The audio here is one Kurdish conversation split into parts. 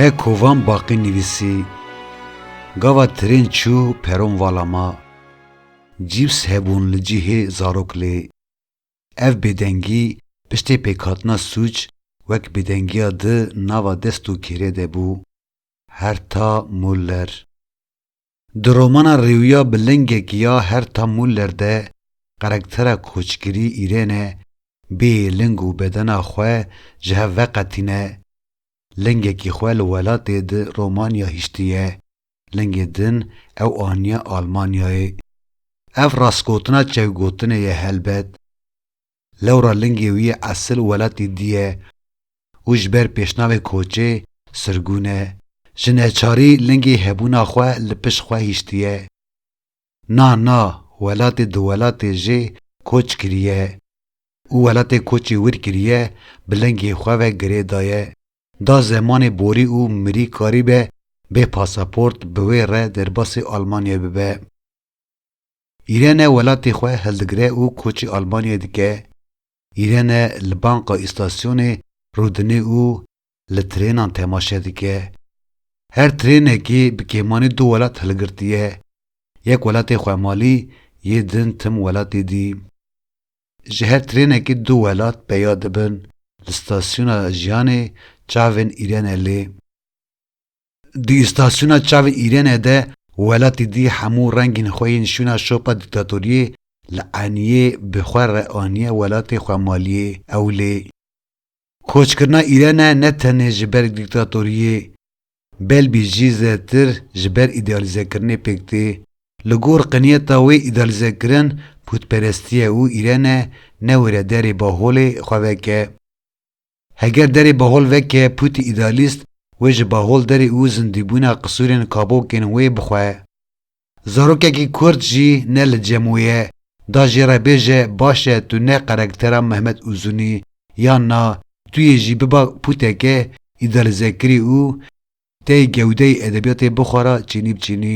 He kovan baqî nivîsî, Gava tirên çû peron vala ma, cîps hebûn li cihê zarok lê. Ev bêdengî piştê pêkhatina sûc wek bêdengiya di nava dest û kêrê de bû. Herta Muller. Di romana Rêwiya bi lingek ya Herta Muller de karaktera koçgirî Îrene bê ling û bedena xwe ji hev veqetîne. Lingekî xwe li welatê di Romanya hiştiye, lingê din ew aniye Almanyayê. Ev rastgotina çewgotinê ye helbet. Lewra lingê wî esil welatî dî ye û ji ber pêşnavê koçê sirgûn e. Ji neçarî lingê hebûna xwe li pişt xwe hiştiye. Na na welatê di welatê jê koç kiriye û welatê koçê wir kiriye bi lingê xwe ve girê daye. Da zemanê borî û mirî karîbe bê pasaport bi wê re derbasê Almanyayê bibe. Îrene welatê xwe hildigire û koçê Almanyayê dike, Îrene li banka îstasyonê rûdine û li trênan temaşe dike. Her trênekê bi kêmanî du welat hilgirtiye, yek welatê xwe malî yê din tim welatê dî. Ji her trênekê du welat peya dibin, li stasyona jiyanê çavên Îrene lê. Di îstasyona çavên Îrênê de welatî dî hemû rengên xwe yên şûna şopa dîktatoriyê li eniyê bi xwe re aniye welatê xwemaliyê ew lê koçkirina Îrêne ne tenê ji ber dîktatoriyê belbî jî zêtir ji ber îdealîzekirinê pêk tê. Li gor qiniyeta wê îdealîzekirin pûtperestiye û Îrêne ne wêrederê baholê xwe veke. Heger derê bahol veke pûtî îdealîst wê ji bahol derê û zindîbûna qisûrên kabokên wê bixwe. Zarokekî kurd jî ne li cem wê ye, da jê re bêje baş e tu ne karektera Mehmet Uzun î yan na, tu yê jî biba pûteke îdealîzekirî û tê gewdeyê edebiyatê bixwe ra çînî bi çînî.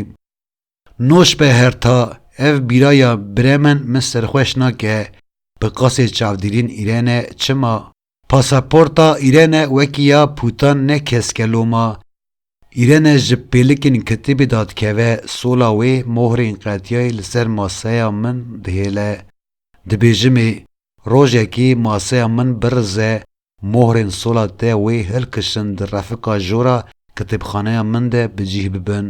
Nûş be Herta, ev bîra ya Bremen min serxweş nake, bi qasê çavdîrîn Îrene, çima? Pasaporta Îrene wekî ya Pûtan ne keske loma. Îrene ji pêlikên kitîbê da dikeve, sola wê mohrên qetiyayê li ser maseya min dihêle. Dibêjimê, rojekê maseya min birize, mohrên sola te wê hilkişin di refika jora kitêbxaneya min de bi cîh bibin.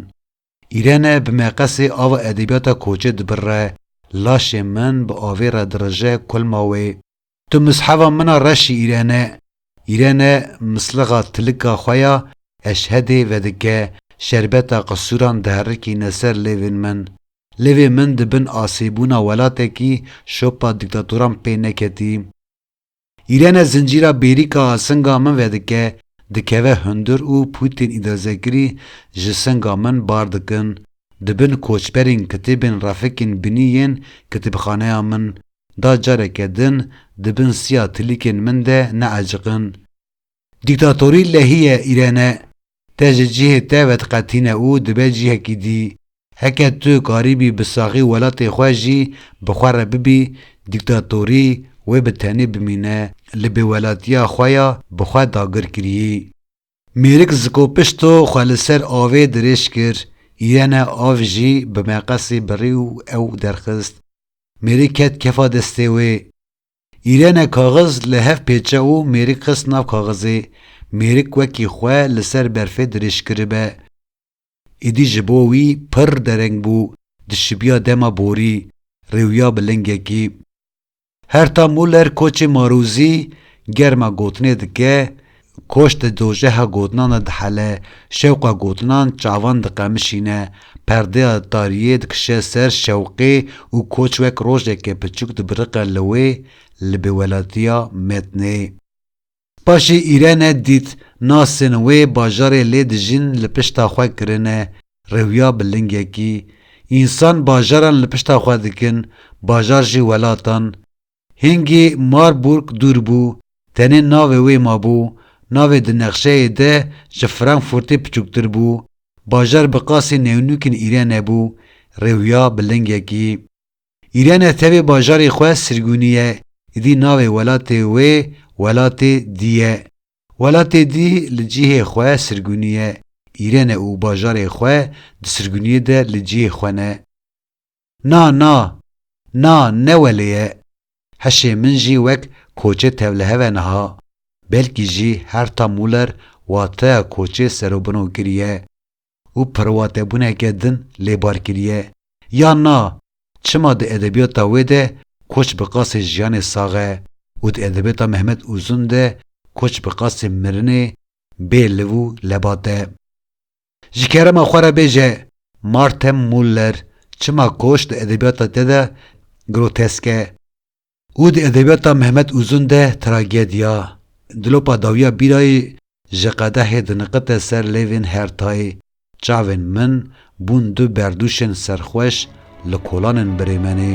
Îrene bi meqesê ava edebiyata koçê dibirre, Laşê min bi avê re dirije kulma wê. Tu misheva min a reşî Îrene. Îrene mislixa tilika xwe ya eşhedê vedike, şerbeta qisûran diherikîne ser lêvên min. Lêvê min di bin asêbûna welatekî şopa dîktatoran pê neketî. Îrene zincîra bêrîka a singa min vedike, dikeve hundir û Pûtîn Îdazekirî ji singa min bar dikin. Di bin koçberên kitêbên refikên binî yên kitêbxaneya min da careke din di bin siya tilîkên min de neaciqin. Dîktatorî lehî ye Îrene. Te ji cihê te vediqetîne û dibe cihekî dî. Heke tu karîbî bi saxî welatê xwe jî bi xwe re bibî, dîktatorî wê bi tenê bimîne, li bêwelatiya xwe ya bi xwe dagir kirî. Mêrik zikopişto xwe li ser avê dirêj kir, Îrene av jî bi meqesê birî û ew derxist. Mêrik ket kefa destê wê. Îrene kaxiz li hev pêçe û mêrik xist nav kaxizê. Mêrik wekî xwe li ser berfê dirêj kiribe. Êdî ji bo wî pirr dereng bû, dişibiya dema borî, rêwiya bi lingekî. Herta Muller koçê marûzî, germa gotinê dike, Koç di dojeha gotinan de dihele, şewqa gotinan çavan diqemişîne, perdeya tariyê dikişe ser şewqê û koç wek rojeke piçûk dibiriqe li wê, li bêwelatiya metnê. Paşê Îrene dît nasên wê bajarê lê dijîn li pişta xwe kirine, rewya bi lingekî. Însan bajaran li pişta xwe dikin, bajar jî welatan. Hingê Marburg dûr bû, tenê navê wê mabû, navê di nexşeyê de ji Frankfurtê piçûktir bû, bajar bi qasî newnûkên Îrene bû, rêwuya bi lingekî. Îrene tevê bajarê xwe Sirgûnî ye, îdî navê welatê wê Welatê Dî ye. Welatê Dî li cihê xwe Sirgûnî ye, Îrene û bajarê xwe di Sirgûnîyê de li cihê xwe ne. Na na! Na ne welê ye. Hişê min jî wek koçê tevlihev e niha. Belkî jî Herta Muller wateya koçê serûbino kiriye û perwatebûneke din lê bar kiriye. Ya na! Çima di edebiyata wê de koç bi qasê jiyanê sax e û di edebiyata Mehmet Uzun de koç bi qasê mirinê bê liv û lebat e. Ji kerema xwe re bêje Martin Muller çima koç di edebiyata te de grotesk e û di edebiyata Mehmet Uzun de tragedya, dilopa dawiya bîrayê ji qedehê diniqite ser lêvên Hertayê, çavên min bûn du berdûşên serxweş li kolanên Brêmenê.